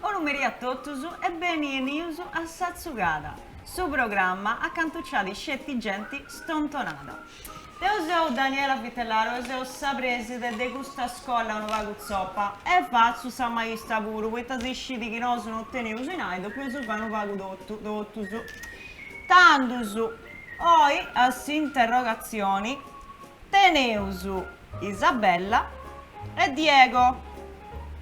Bonu merì a totus e beni 'enius a sa tzugada su programma acantu ci at sceti genti stontonada. Deu seu Daniela Vitellaro e seu sa preside de custa scolla unu pagu tzopa e fatzu sa maista puru poita si scidi chi nosu no teneus 'inai depeus fai unu pagu totu totus tandus oi a s'interrogatzioni teneus Isabella E Diego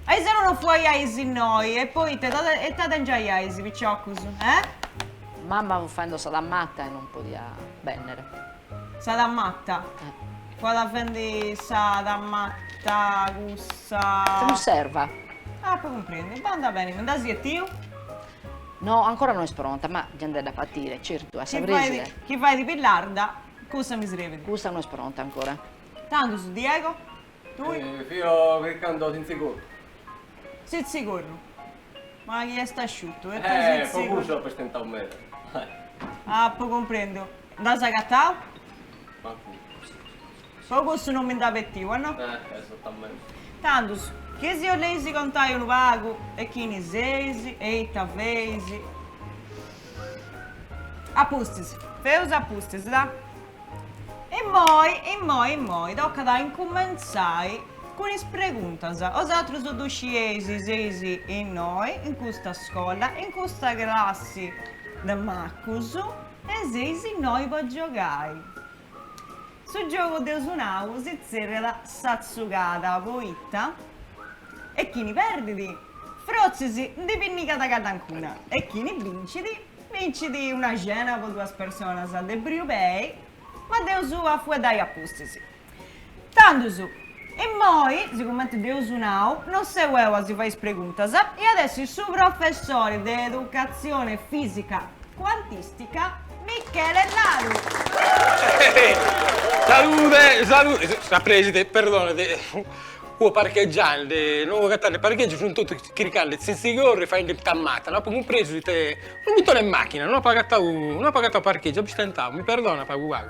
Ariseru non fuaiais innoi e poita ita tengiaiais piciocus, eh? Mamma fut faendo sa tamatta e non podia bennere. Sa tamatta? Eh. Fuat fendi sa tamatta cussa. Sa cunserva. Ah, apu cumprendi. Bandat beni, mi nd'as betiu? No, ancora no est pronta, ma già nd'at a batire, certu, a sa preside. Chi fait chi fait Pillarda Cussa mi srebit. Cussa no est pronta ancora. Tandus Diego? Tui? Fio chircando sintzigorru. Sintzigorru? Ma chi est asciutu. E tui sintzigorru. Po cussu apo istentau meda. Apu cumprendiu. Nd'as agatau? Mancu cussu. Po cussu no mi nd'as betiu, a no? Esatamenti. Tandus, chi si 'oleis contai unu pagu e chini seis e ita feis? A pustis, feus a pustis, da. Immoi, immoi, immoi, tocat a incumentzai cun is preguntas. Osatrus ddu scieis, seis innoi, in custa scolla, in custa classi de macus e seis innoi po giogai. Su giogu dd'eus nau si tzerriat sa tzugada poita e chini perdit frotzis ndi pinnigat cadancuna e chini bincit bincit una cena po duas personas de briu pei ma nd'eus a fueddai a pustis. Tandus, immoi, sigumenti dd'eus nau, non seu eu a si fai is preguntas, at essi su professori de educatzioni fisica cuantìstica Michele Aru. Salude, salude, sa preside, perdonat, fua parchegiandi, no fua agatandi parcheggiu, funt totus chircandi tzintzigorru, faendi tamata, no apu cumpresu ite, unu muntone 'e machina, non apu agatau, non apu agatau parcheggiu, apu stentau, mi perdona pagu pagu.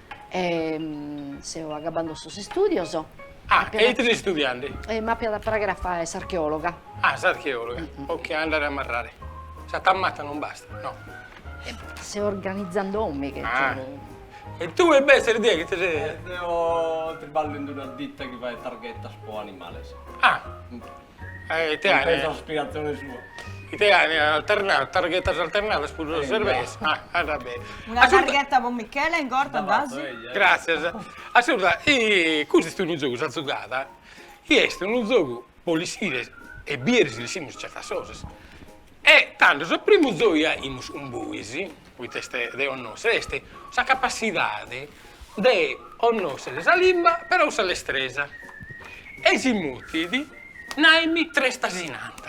E seu agabbando sos istudios. Ah, e ite ses istudiende? E m'appiat a pragher a fàere s'archeologa. Ah, s'archeologa, ok, a andare a marrare. Sa tammata non basta, no? Seu organizandomiche. Ah, e tue imbetzes Diego ite ses. Deo triballo in una ditta chi fait targhetas pro animales. Ah. Eh ite est. Sa spiegazione sua. Ite est alternada, targhetas alternadas puru sos servesi. Andat bene. Una targheta pro Michele in corta nd'as? Gràssias. Assurda, custu est unu zogu, sa zugada, chi est unu zogu pro lessire e bìdere si lessimus certas cosas. E tando sos primos zogamus cun bois poita est de connòscher, est sa capatzidade de connòscher sa limba però sa lestresa. E si mutit, nàrami tres t'asinant.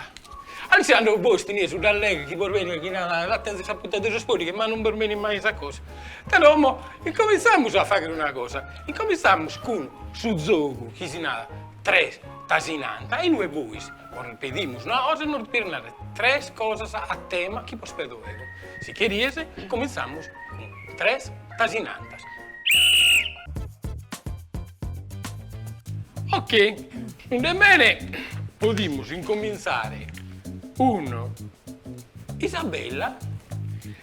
A ischire cando bos benit nudda, allega chi bos benit chi narat la tenzo in sa punta de sos poddighes ma non bos benit mai sa cosa. Però mo incominzamus a fagher una cosa, incominzamus cun su zogu chi si narat tres t'asinant e inue bois Ora bos pedimus, no, bois nos depides narrer tres cosas a tema chi bos pedo deo. Si cherides, incominzamus cun tres tasinantas. Ok, anda bene podimus incominzare cun Isabella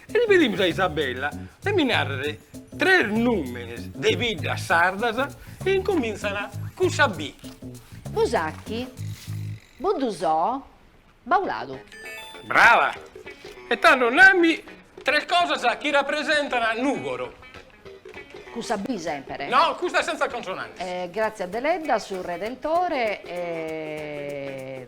E pedimus a Isabella de mi narrere tres nùmenes de biddas sardas chi incomìntzana cun sa B. Busacchi, Buddusò, Bauladu. Brava! E tando nami tres cosas chi rapresentana Nùgoro. Cun sa B semper? No, custa senza consonantes. Grazia Deledda, su Redentore e.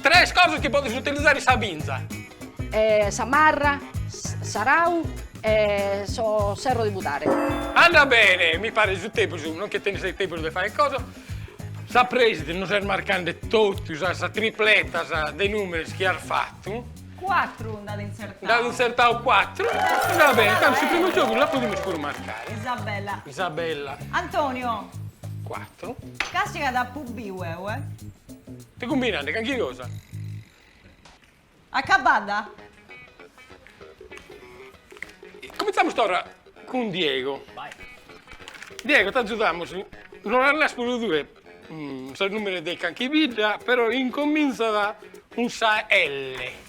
Tres cosas chi podis utilizare in sa binza. Sa marra, s'arau e su ferru de pudare. Andat bene, mi paret su tempus, no nche tenis de tempus de fai cosa. Sa prèside nos est marcande totus sas tripletas de numeris chi as fatu. Cuatru nd'at intzertau. Nd'at intzertau cuatru. Andat bene, tando su primu giogu lu podimus puru marcai. Isabella. Isabella. Antonio. Cuatru. Casi ca t'apu biu eue. Ti cumbinant calchi cosa? Acabada? Cominzamus torra cun Diego. Diego t'agiudamus, nos naras puru tue sos nùmenes de calchi bidda, però incominzant cun sa L.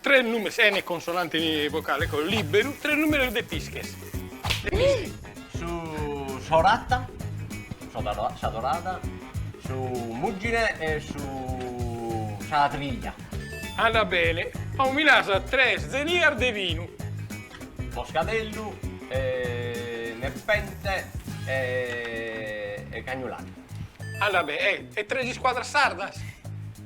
Tres nùmenes, chene consonante ne vocale, ecco, liberu, tres nùmenes de pisches. Su s'orata, sa dorada, su muggine e su sa triglia. Andat bene. Como mi naras tres zenias de vinu. Moscadellu e Nepente e Cagnulari. Andat bene. E tres iscuadras sardas?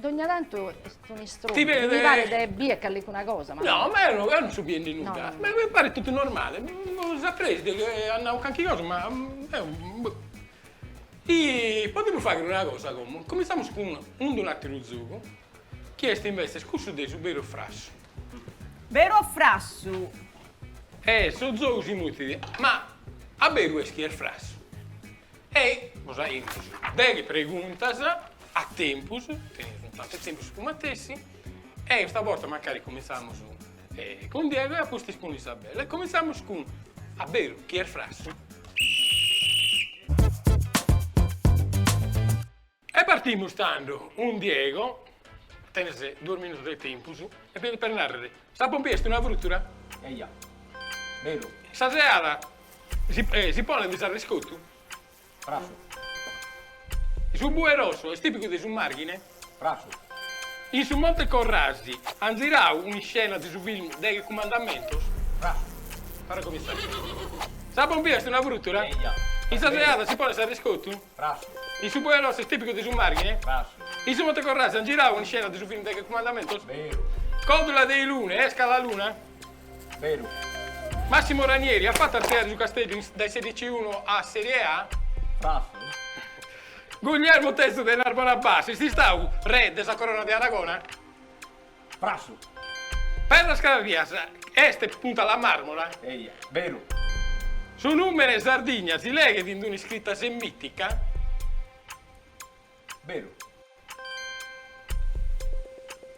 Dogna tantu est un'istrombu, mi paret de bier callicuna cosa. No, ma eo non so biendi nudda, mi paret totu normale, boh, a presidi chi at nau calchi cosa, ma eo boh. I podimus fagher una cosa como, cominzamus cun unu ateru zogu, chi est investes cussu de su beru o frassu. Beru o frassu? E su zogu si mutit, ma a beru est chi est frassu? E bos faimus deghe preguntas a tempus, tenimus unu pagu 'e tempus su matessi, e custa borta mancari cumintzamus cun Diego e a pustis cun Isabella. E cumintzamus cun, a beru, chi est frassu? E partimus tando cun Diego, tenes duos minutos de tempus, e fini per narrer, sa pompia est una frutura? Eja. Beru. In sa seada si ponet s'arrescotu? Frassu. Su bue rossu est tipicu de su Marghine? Frassu. In su Monte Corrasi an zirau un'iscena de su film Deghe cumandamentos? Frassu. Para comintzai. Sa pompia est una frutura? Eja. In sa seada si ponet s'arrescotu? Frassu. Su bue rossu est tìpicu de su Màrghine? Frassu. In su Monte Corrasi ant girau un'iscena de su film Deghe Cumandamentos? Beru. Còdula de Ilune est Cala Luna? Beru. Massimo Ranieri at fatu artziare su Casteddu dae sa C1 a Serie A? Frassu. Guglielmo Terzu de Narbona Bas est istau re de sa Corona de Aragona? Frassu. Perdas Carpias est Punta La Marmora? Eia, beru. Su nùmene Sardigna si leghet in un'iscrita semìtica? Beru.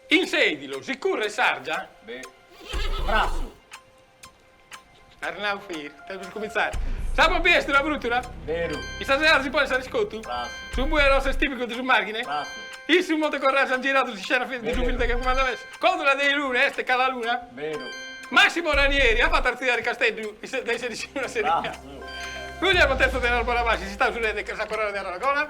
In Sèdilo si curret s'àrdia? Beru. Frassu. Arnau Fir. Stai per cumintzare. Sa pompia est una frùtura? Beru. In sa seada si ponet s'arrescotu? Frassu. Su bue arrossu est tìpicu de su Màrghine? Frassu. In su Monte Corrasi ant giradu un'iscena de su film Deghe Cumandamentos? Còdula de Ilune est Cala Luna? Beru. Màssimo Ranieri at fatu artziare Casteddu dae sa C1 a Serie A? Frassu. Guglielmo Terzo de Narbona Bas est istau su re de sa Corona de Aragona?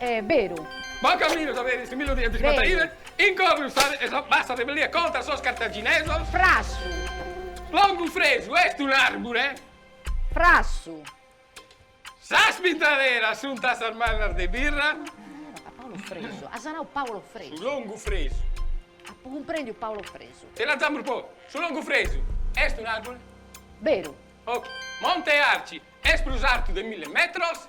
E beru. Bon caminu sa de s'millu dies cincuantaives in Cornus sa de sa bassa rebellia contra sos cartaginesos. Frassu. Longufresu est un'arbure. Frassu. Sas pintaderas sunt tassas mannas de birra. A Paolo Fresu. As nau Paolo Fresu. Su longufresu. Apo cumprendiu Paolo Fresu. Che lanzamus po. Su longufresu est un'arbure. Beru. Monte Arci est prus artu de mille metros.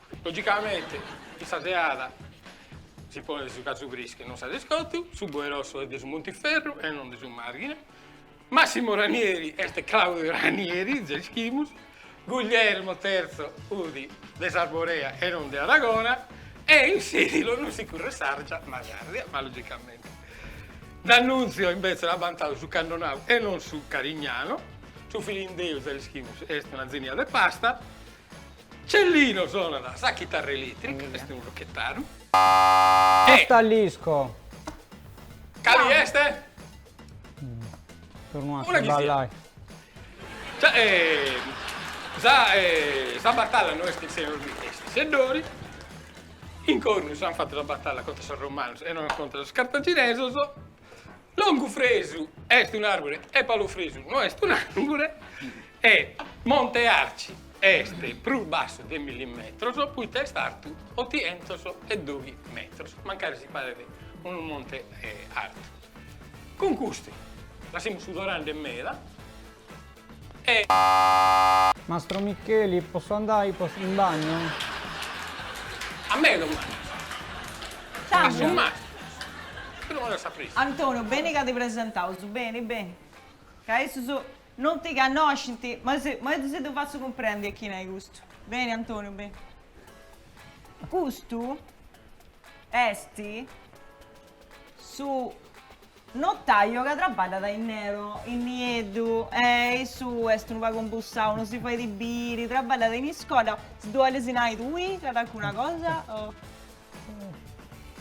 Logicamente in sa seada si ponet su casu friscu e non s'arrescotu, su boe rossu est de su Montiferru e non de su Marghine, Massimo Ranieri est Claudio Ranieri, già ischimus, Guglielmo Terzo fudi de s'Arborea e non de Aragona e in Sedilo non si curret s'àrgia ma s'àrdia, ma logicamente D'Annunzio imbetzes at bantadu su Cannonau e non su Carignano, su Filindeu già l'ischimus est una zenia de pasta, Cellino sonat sa chitarra eletrica, est unu rochetaru. Talisco. Cali est? Tornu a sballai. Sa batalla no est in Senorbì, est in Seddori. In Cornus s'ant fatu sa batalla contra sos romanos e non contra sos cartaginesos. Longu Fresu est un'àrbure e Palu Fresu no est un'àrbure e Monte Arci est prus bassu de milli metros poita est artu otientos e doghi metros, mancari si paret unu monte artu. Cun custu lassemus sudorande meda Mastro Micheli, possu andai in bagno? A mei non m'at Sandra. Antonio, beni ca ti presentaus, beni, beni, ca issus non ti cannoscint, ma si, ma si ddu fatzu cumprendi a chini est custu. Beni, Antonio, beni. Custu est Su notaio ca trabballat in nero, in nieddu, e issu est unu pagu imbussau, no si fait biri, trabballat in iscola, si ddu 'olis nai tui calincuna cosa o.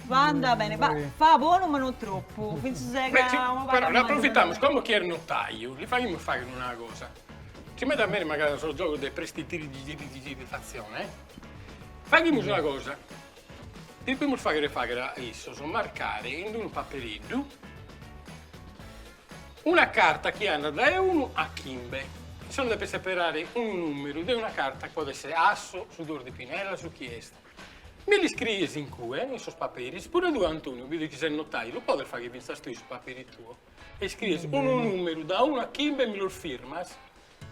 Va andà bene, va, fa bonu ma no tropu, fintzas e ca unu pagu Però n'approfitamus, como chi est notaiu, li faghimus fagher una cosa, ci m'at a essere mancai sos giogos de prestidirigidirigidifatzione, faghimus una cosa, Depemus fàghere fàghere a issos, marcare in unu papereddu una carta chi andat dae unu a chimbe. Issos depent seperare unu nùmeru de una carta chi podet essere asso, su duos, sa pinella, su chi est. Mi l'iscries in cue, in sos paperis, puru tue Antoniu, bido chi ses notaiu, lu podes fàghere fintzas tue su papere tuo e iscries unu nùmeru da unu a chimbe e mi los firmas?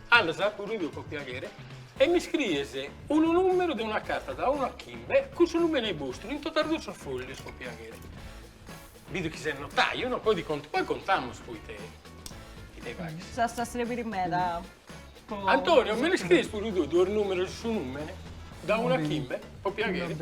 Andas puru tue po piaghere e mi scries unu numeru de una carta da unu a chimbe cun su numene 'e bostru in totos duos sos foglios po piaghere. Bido chi ses notaiu no, poi contamus poi ite ite faghes. S'as a srebiri meda po. Antonio me li scries puru tui duos numeros e su numene da unu a chimbe po piaghere.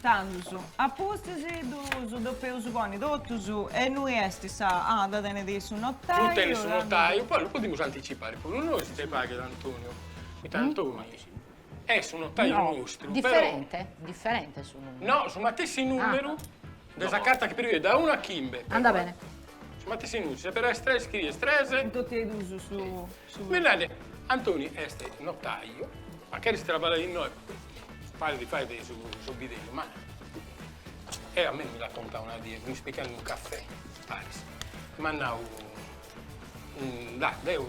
Tandus a pustis ddus depeus ponni totus e innui est sa. Ah, dda tenit su notaiu. Ddu tenit su notaiu, poi ddu podimus anticipare cun unu nois, nc'est pagu de Antoniu, poita Antoni est su notaiu nostru, però. Diferente? Diferente su numeru? No, su matessi numeru. De sa carta chi perigues da unu a chimbe. Andat bene. Su matessinus, se però est tres scries tres. In totu e duus su. Mi narant, Antoni est notaio, ma cheris traballai innoi, paris chi fait su bidellu, ma e a mei mi l'at contau una die, mi spicat in unu cafè, paris, m'at nau, da, deu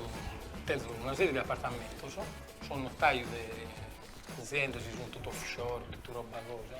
tenzu una serie de apartamentus, seu notaiu de aziendas chi sunt totu off shore, totu roba cosa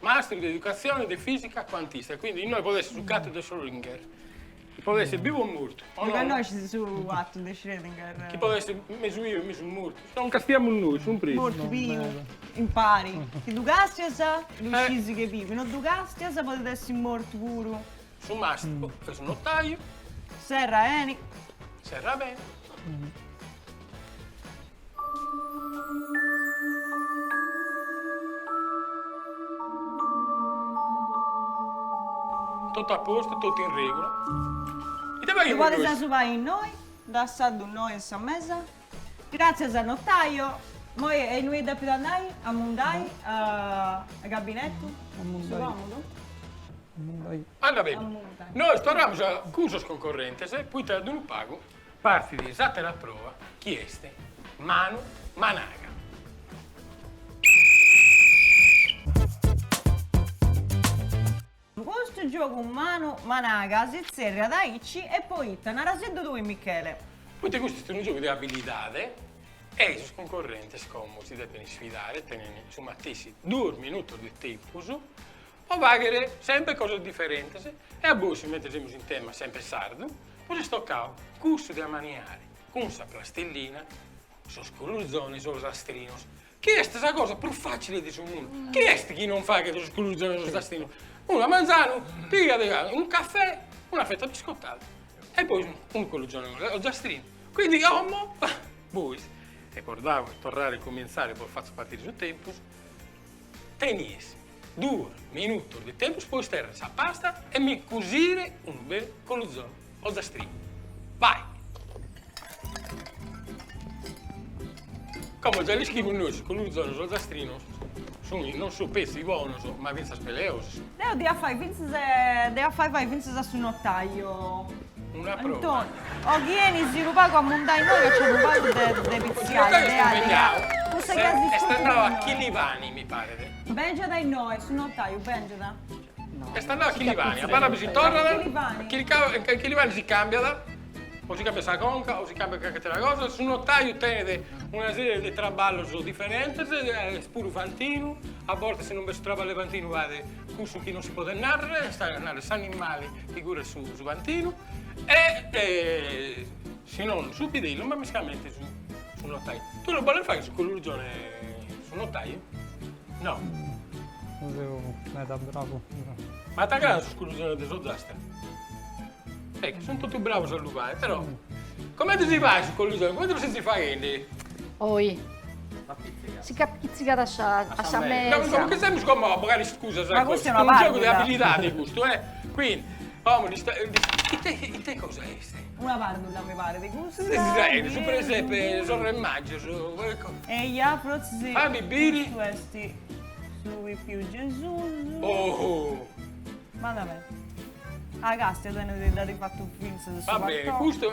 Mastru de educatzione de fìsica cuantista, quindi innoi podet essi su gatu de Schrödinger, chi podet essi bivu o mortu. O no? Connoscis su gatu de Schrödinger? Chi podet essi mesu bivu e mesu mortu. Non castiamus nois, sun prus. Mortu, bivu, impari. Chi ddu castias, ddu scis chi est bivu. Chi no ddu castias, podet essi mortu puru. Su mastru est unu notaiu. Serra 'eni. Serra 'beni. Totu a postu, totu in regula. Ite faghimus nois? Ddu podeus fai innoi, dassaddu innoi in sa mesa. Gratzias a notaio. Moi e innui depit andai? A mundai a gabinetu? A mundai. Su comudu? A mundai. Andat beni. Nois torramus cun sos concorrentes, poita tra unu pagu. Partit s'àtera prova chi est manu managa. Custu giogu manu managa si tzerriat aici e poita, narasiddu tui Michele. Poite custu est unu giogu de abilidade e sos cuncorrentes como si depent isfidare tenent su matessi duos minutos de tempus po faghere sempre cosas diferentes e a bois si mette semus in tema sempre sardu bos est tocau cussu de amaniare cun sa plastillina sos culuzones ozastrinos chi est sa cosa prus facile de su mundu chie est chi non faghet sos culuzones ozastrinos unu manzanu pigat unu cafè una fetta biscottada e poi unu culuzone ozastrinu quindi como bois recordau torrare a cominzare bos fatzu partire su tempus Tenies duos minutos de tempus po isterre sa pasta e mi cusire unu bellu coluzonu ozastrinu. Vai! Como già l'ischimus nois, sos coluzonos ozastrinos sunt non solu petzi bonos, ma fintzas peleosus. Deu dd'ia a fai fintzas dd'ia a fai fai fintzas a su notaio. Una prova. O chi 'enis unu pagu a mundai innoi ca nc'est unu pagu de de pitziai, de àliga. Cussa chi as Est andau a Chilivani, mi paret. Bèngiat a innoi, su notaiu bèngiat. Est andau a Chilivani, abarrat si torrat, chilcau e in Chilivani si càmbiat, o si càmbiat sa conca o si càmbiat carchi atera cosa, su notaiu tenit una serie de traballos diferentes, est puru fantinu, a bortas si non b'est su traballu 'e fantinu fait Cussu chi non si podet narrer est a narrer s'animali chi curret su fantinu e si non su bidellu ma mescamente su notaiu. Tue lu boles fagher su collurgione su notaiu? No. Non seu meda bravu. Ma t'agradan sos collurgiones de s'Ozastra? Ecco, sun totu bravos a lu fai, però. Comente si fait su colluzone? Comente lu sezis faendi? Oi. Si ch'apizzicat a sa a sa mesa. No, comente semus como a bogai iscusas. Ma custu est una pàrdula. Est unu giogu de abilidadi custu, eh. Quindi, como ddi. Ite cosa est? Una pàrdula mi parit custa. Ite si fait? Su presepe, sos re magios. Eia, frotzis. Fammi biri. Custu est su pipiu Gesus. Oh. Andat beni. A Castia tenet iddadi fatu fintzas su Vabbè, partoni. custu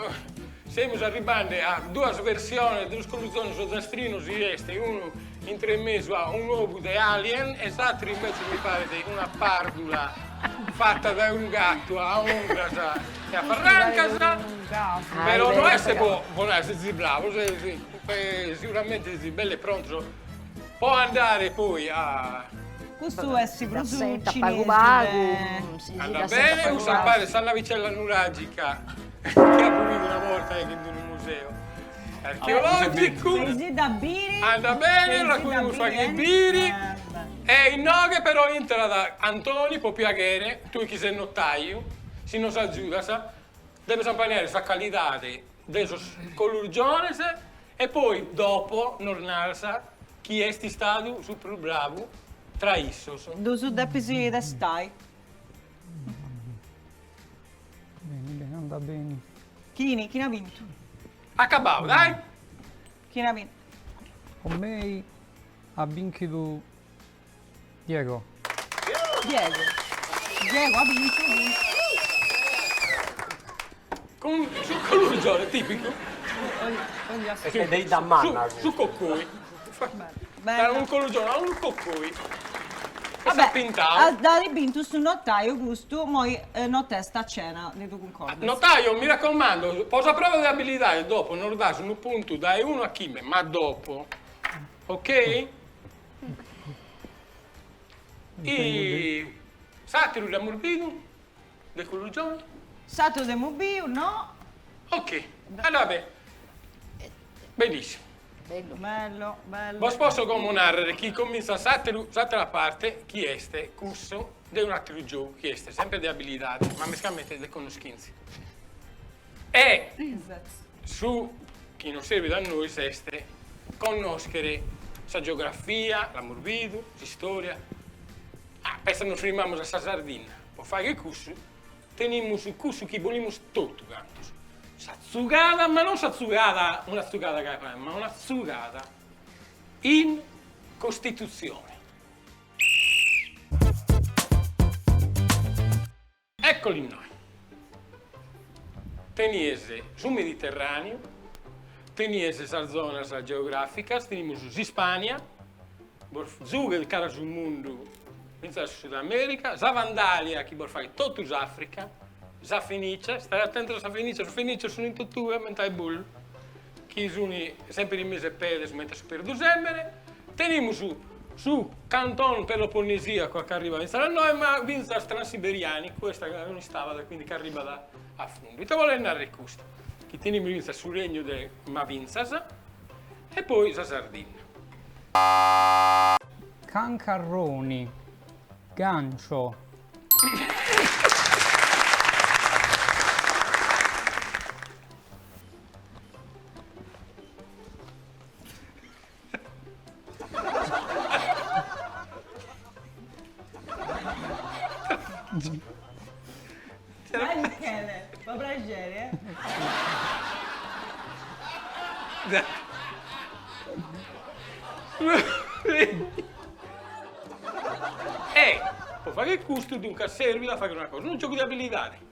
semus arribbende a duas versiones de sos colluzones ozastrinos chi est unu intre in mesu a un ovu de alien e s'atteru invece mi paret una pardula fatta dae un gattu a ungras e a farrancas però no est po po nai si ziblaus e si siguramente si belle prontos Po andare poi a. Custu est prus cinesi de. Andat bene, custa paret sa navicella nuragica chi apu bidu una borta in unu museu archeologicu. Sei si dda biri. Andat bene, la cunus faghiat biri. E inoghe però intrat Antoni, po piaghere, tui chi ses notaiu, si nos agiudas, deves ampaniare sa calidade de sos colurgiones E poi dopo nos naras chie est istadu su prus bravu tra issos. Ddus depis testai. Beni, beni, andat beni. Chini, chini at bintu. Acabau, dai! Chini at bintu. Po mei at binchidu. Diego. Diego. Diego ha vinto cun su collurgione tipicu su coccoi dai unu collurgione a unu coccoi e s'at pintau. Vabbè, dd'adi bintu su notaiu custu, moi notesta a cena, ti ddu cuncordas? Notaiu, mi raccomando, po sa prova de abilidadi dopo nos das unu puntu dai unu a chimbe, ma dopo, ok? E s'ateru dd'amus bidu, de cuddu giogu? S'ateru dd'amus biu, no. Ok, allora beh, bellissimu. Bellu. Bello, bello. Bos posso como narrer chi cominzat s'ateru, s'atera parte chi est cussu de un'ateru giogu chi est sempre de abilidade, ma mescamente de connoschintzia. E su chi nos serbit a nois est connòschere sa geografia, l'amus bidu, s'istòria. Ah, petzi nos firmamus a sa Sardinna, po fagher cussu tenimus cussu chi bolimus totu cantos, sa tzugada, ma non sa tzugada, una tzugada ca faeddint, ma una tzugada in Costitutzione. Eccoli innoi. Tenies su Mediterraneu, tenies sas zonas geograficas, tenimus s'Ispania, bos zughet cara su mundu fintzas Sud America, sa Vandalia chi bos faghet totu s'Africa, sa Fenicia, stae atentos a sa Fenicia, su Fenicia sun in totue mentai bollu. chi sunt sempre in mesu 'e pedes comente a su perdusèmene, tenimus su Canton Peloponnesìacu a ch'arribat fintzas a nois, ma fintzas Transiberianicu est a ca non istabat e quindi ch'arribat a fundu. Ite bolet narrer custu? Chi tenimus fintzas su Regnu de ma fintzas e poi sa Sardinna. Cancarroni, gancio. Dai Michele, fa praxeri eh. Ehi, po fagher custu duncas servit a fagher una cosa, unu giogu de abilidadi.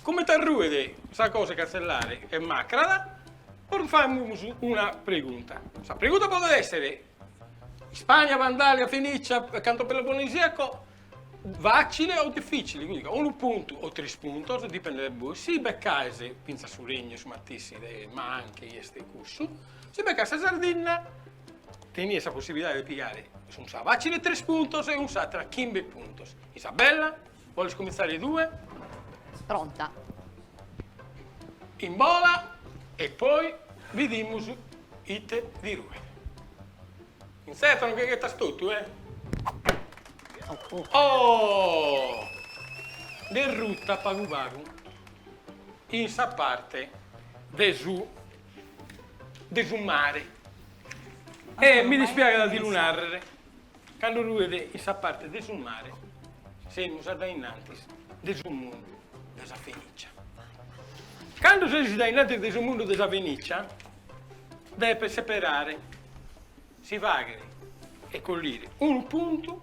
Comente arruet sa cosa de cantzellare est macrada, poi famus una pregunta. Sa pregunta podet esser, Ispagna, Vandalia, Fenicia, Canton Peloponnesiaco, facile o difficile, quindi ca unu puntu o tres puntos, dipendet de bois, si beccaes finzas su regnu, su matessi de ma anche chi est cussu, si beccaes sa Sardinna, tenies sa possibilidade de pigare in sa facile tres puntos e in s'atra chimbe puntos. In sa bella? Boles cumintzare tue? Pronta. Imbola e poi bidimus ite ti ruet. Intzerta non che ghetas totu, eh? Oh! T'est ruta pagu pagu in sa parte de su de su mare. E mi dispiaghet a ti lu narrer. Cando ruet in sa parte de su mare, semus adainnantis de su mundu de sa Fenìcia. Cando seis adainnantis de su mundu de sa Fenìcia, depes seperare si fàghere e collire unu puntu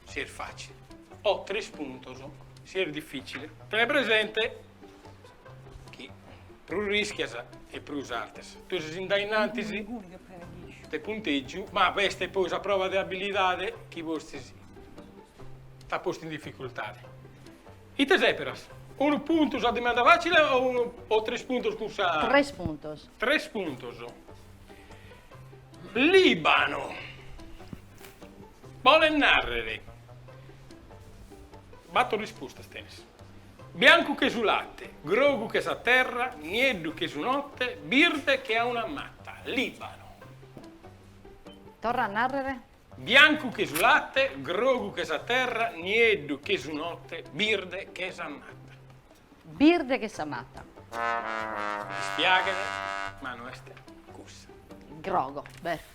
si est fàcile o tres puntos si est difìcile. Tene presente chi prus rischias e prus artzas. Tue ses in dainantis de puntegiu, ma b'est poi sa prova de abilidade chi postis t'at postu in dificultade. Ite seperas? Unu puntu sa dimanda facile o tres puntos cun sa. Tres puntos. Tres puntos. Libanu bolet narrer, bator rispostas tenes. Biancu che su latte, grogu che sa terra, nieddu che sa notte, birde che a una matta. Libano. Torra a narrere. Biancu che su latte, grogu che sa terra, nieddu che sa notte, birde che sa matta. Birde che sa matta. Mi dispiaghet, ma no est cussa. Grogu, beh.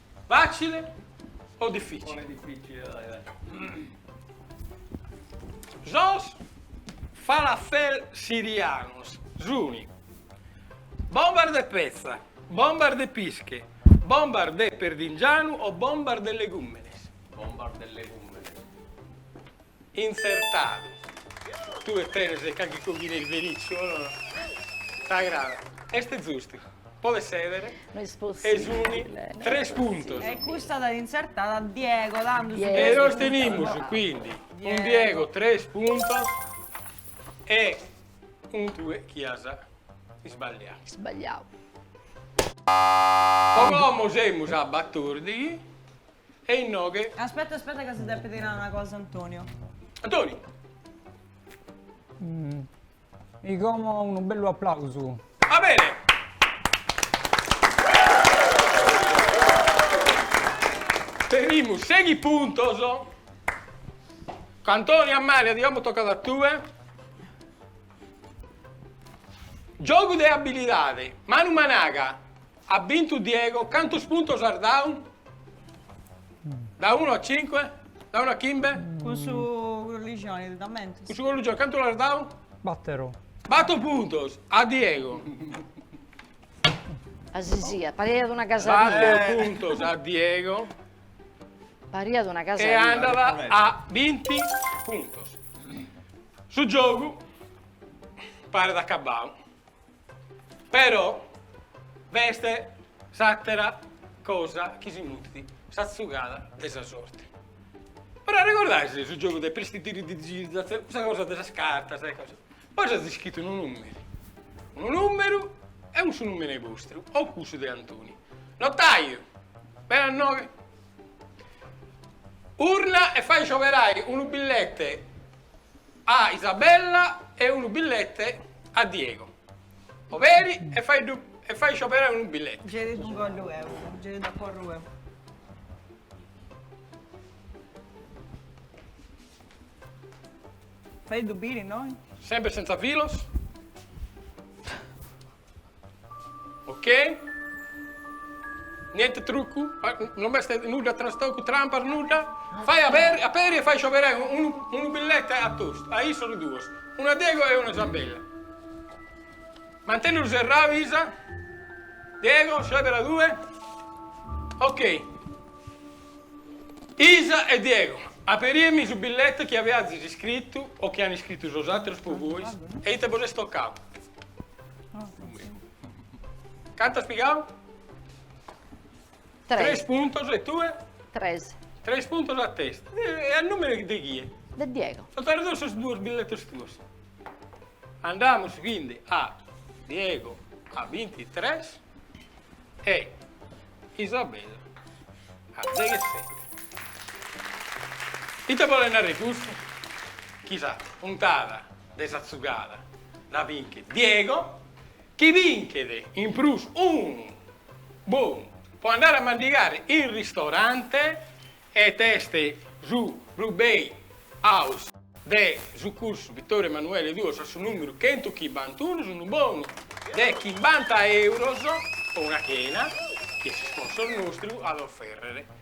Facile o difficile? Sos falafel sirianos sun bombas de petza, bombas de pische, bombas de perdingianu o bombas de legùmenes? Bombas de legùmenes. Intzertadu. Tue tenes carchi coghina isberizu o no? T'agradat? Est zustu. Podes sèdere. No est possìbile. E sunt tres puntos. E custa t'at intzertada Diego, tando sunt tres puntos. E nos tenimus, quindi, cun Diego tres puntos e cun tue chi as isbagliadu. Isbagliadu. Como semus a batòrdighi, E inoghe. Aspetta, aspetta ca si depet nai una cosa Antonio. Antonio. E como unu bellu applausu. Va bene. Tenimus sèighi puntos. Antonio, Amalia, e como tocat a tue. Giogu de abilidade, manu managa, At bintu Diego, cantos puntos l'as dau? Da unu a cinque? Da unu a chimbe? Cun su colligioni t'ammentas? Cun su colligioni cantu l'as dau? Battoro. Battor puntos a Diego. Asisiat, pariat una casadina. Bator puntos a Diego. Pariat una casadina. E andat a binti puntos. Su giogu paret acabau. Però b'est s'àtera cosa chi si mutit, sa tzugada de sa sorte. Però arregordàis su giogu de pristitiridigirizatzione, cussa cosa de sas cartas e cosas. Bois as iscritu unu nùmene, unu nùmeru e cussu nùmene bostru o cussu de Antoni. Notàiu, bene a inoe, urna e fai scioberai unu billete a Isabella e unu billete a Diego. Oberi e faeddu e fai scioberai unu billete. Ge ti ddu ingollu eu, ge ti dda porru eu. Faeddu biri innoi. Sempre senza filos. Ok. Niente truccu? Non b'est nudda trastocu, trampas, nudda? Fai aberi, aperi e fai scioberai unu, unu billete a testa, a issos duos, unu a Diego e unu a Isabella. Mantennelu serrau, Isa. Diego, scioberas tue. Ok. Isa e Diego, aperiemi su billete chi aviazis iscritu o chi an iscritu sos ateros po bois e ite bos est tocau. Cant'as pigau? Tres. Tres puntos e tue? Tres. Tres puntos a testa. E a numero de chie? De Diego. Sunt arridos sos duos billetes tuos. Andamus quindi a Diego a bintitres e Isabella a deghesete. Ite bolet narrer custu? Chi sa puntada de sa tzugada dda binchet Diego, chi binchet in prus unu bonu po andare a mandigare in ristorante ed est su Brew Bay House de su cursu Vittorio Emanuele Duos a su numeru chentu chimbantunu, s'unu bonu de chimbanta euros po una chena chi s'isponsoru nostru at a oferrere.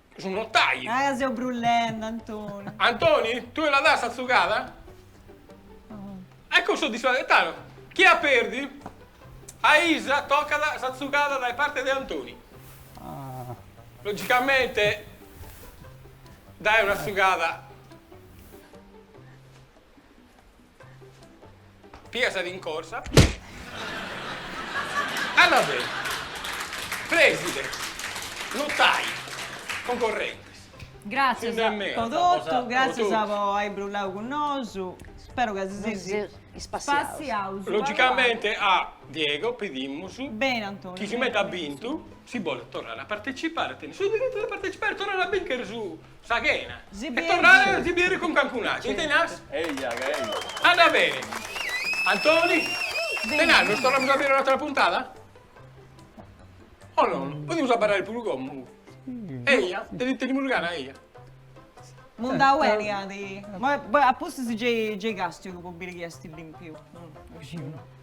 Su notai! Ah, ca seu brullende, Antoni! Antoni, tue la das sa tzugada? Ecco su disfidante, chi at perdiu? A Isa tocat sa tzugada dae parte de Antoni. Logicamente, dae una tzugada. Piga sa rincorsa. Arrasè. Prèside. Notai. Concorrentes. Gràtzias po totu, gràtzias po ai brullau cun nosu. Spero ca si seis spassiaus. Logicamente a Diego pedimus, bene Antoni, chi si meta at bintu, si bolet torrai a partecipare, tenet su diritu de partecipare e torrai a bìnchere su Sa chena. E torrare a si bieri cun calincun'atru. Ite nars? Andat beni. Antoni? Ite nars, nos torramus a bieri un'atra puntada? O non? Podimus abarrai puru commu. Eia, tenimus gana, eia. Mundau beni at. A pustis gei castiu po biri chi est limpiu.